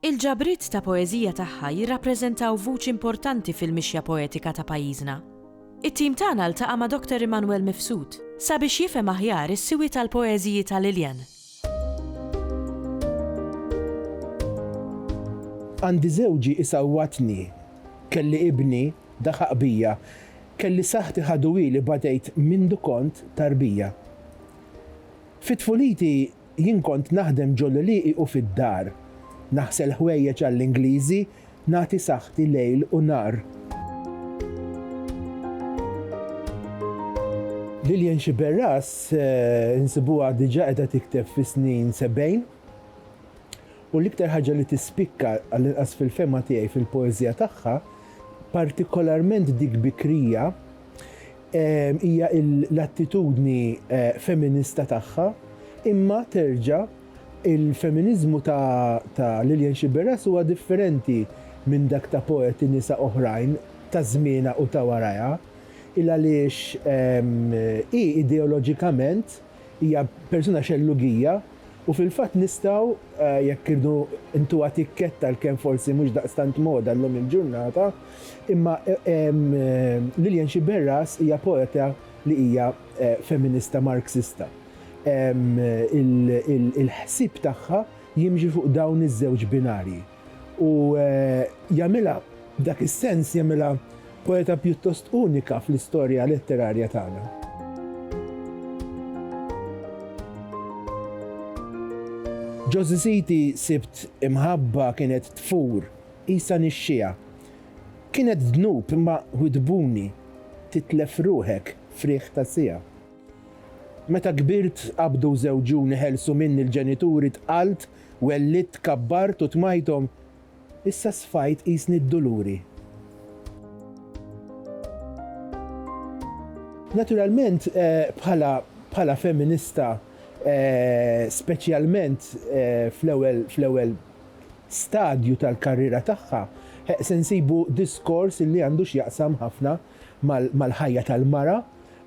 Il-ġabriet ta' poeżija tagħha jirrappreżentaw vuċi importanti fil-mixja poetika ta' pajjiżna. It-tim tagħna ltaqa' ma' Doctor Immanuel Mifsud sabiex jifhem aħjar is-siwi tal-poeżiji ta' Lilian. Għandi żewġi isawwatni, kelli ibni daħaq bija, kelli saħħti ħaduili badejt mindu kont tarbija. Fi tfuliti Jien kont naħdem ġol-għlieqi u fid-dar. Naħsel ħwejjeġ għall-Ingliżi, nagħti saħħti lejl u nhar. Lillian Sciberras insibuha diġà qiegħda tikteb fis-snin sebgħin. U l-iktar ħaġa li tispikka, għall-inqas fil-fehma tiegħi, fil-poeżija tagħha, partikolarment dik bikrija, hija l-attitudni feminista tagħha, imma terġa' il-feminiżmu ta' Lilian Sciberras huwa differenti minn dak ta' poeti nisa oħrajn ta' żmienha u ta' warajha, il-għaliex hi ideoloġikament, Hija persuna xellugija u fil-fatt nistgħu, jekk irridu ntuha tikketta li kemm forsi mhux daqstant moda llum il-ġurnata, imma Lilian Sciberras hija poeta li hija feminista Marxista. Il-ħsieb tagħha jimxi fuq dawn iż-żewġ binarji. U jagħmilha, f'dak is-sens, jagħmilha poeta pjuttost unika fl-istorja letterarja tagħna. Ġo Żiżiti sibt imħabba kienet tfur, qisha nixxiegħa. Kienet dnub imma widbuni titlef ruħek f'riħ ta' siegħa. Meta kbirt qabdu żewġuni ħelsu minni l-ġenituri tqalt Wellidt, kabbart u tmajthom, issa sfajt qisni d-duluri. Naturalment, bħala bħala feminista, speċjalment fl-ewwel fl-ewwel stadju tal-karriera tagħha, se nsibu diskors li għandu x'jaqsam ħafna mal-ħajja tal-mara,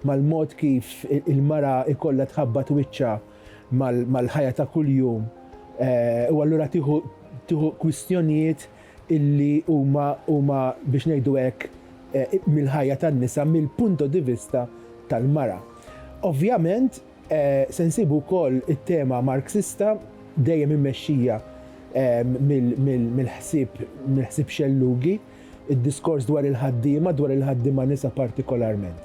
mal-mod kif il-mara jkollha tħabbat wiċċha mal-ħajja ta' kuljum u allura tieħu kwistjonijiet illi huma biex ngħidu hekk mill-ħajja tan-nisa mill-punto di vista tal-mara. Ovvjament se nsibu wkoll it-tema Marxista dejjem immexxija mill-ħsieb mill-ħsieb xellugi, id-diskors dwar il-ħaddiema, dwar il-ħaddiema nisa partikolarment.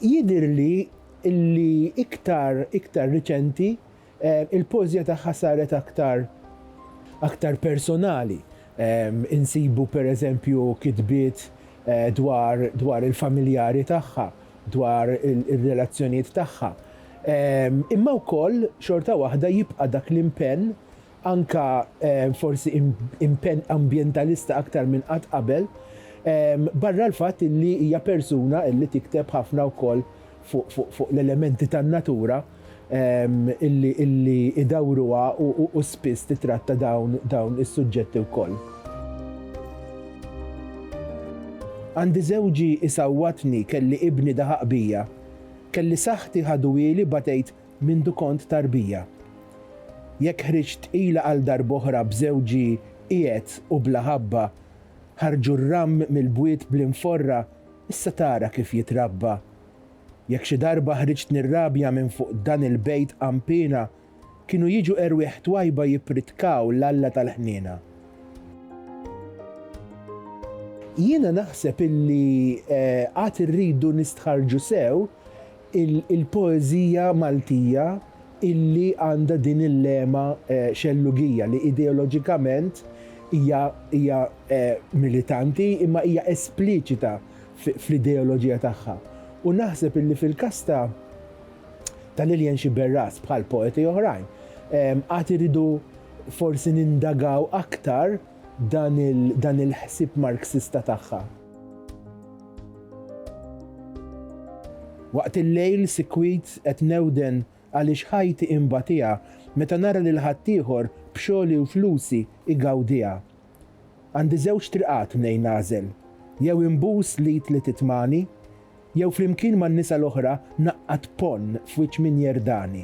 Jidhirli illi iktar iktar riċenti, il-poeżija tagħha saret aktar aktar personali. Insibu pereżempju kitbiet dwar dwar il-familjari tagħha, dwar ir-relazzjonijiet tagħha. Imma wkoll xorta waħda jibqa' dak l-impenn anke forsi impenn ambjentalista aktar minn qatt qabel, barra l-fatt li hija persuna li tikteb ħafna wkoll fuq l-elementi tan-natura li jdawwruha u spiss titratta dawn is-suġġetti wkoll. Għandi żewġi jsawwatni kelli ibni daħaq bija kelli saħħti ħaduhieli batejt Mindu kont tarbija. Jekk ħriġt tqila għal darb'oħra b'żewġi qiegħed u bla ħabba, ħarġu r-ramm mill-bwiet bl-inforra issa tara kif jitrabba. Jekk xi darba ħriġt nirrabja minn fuq dan il-bejt qanpiena, kienu jiġu erwieħ twajba jippritkaw l-Alla tal-ħniena. Jiena naħseb illi għad irridu nistħarrġu sew il-poeżija Maltija illi għandha din il-lema xellugija li ideoloġikament hija hija militanti imma hija espliċita fl-ideoloġija tagħha. U naħseb illi fil-każ ta' ta' Lilian Sciberras bħal poeti oħrajn għad irridu forsi nindagaw aktar dan il-ħsieb Marxista tagħha. Waqt il-lejl sikwit qed newden għaliex ħajti inbatiha meta nara lil ħaddieħor b'xogħli u flusi igawdiha. Għandi żewġ triqat mnejn nagħżel, jew inbus l-id li titmani, jew flimkien man-nisa l-oħra naqqad ponn f'wiċċ min jerdani.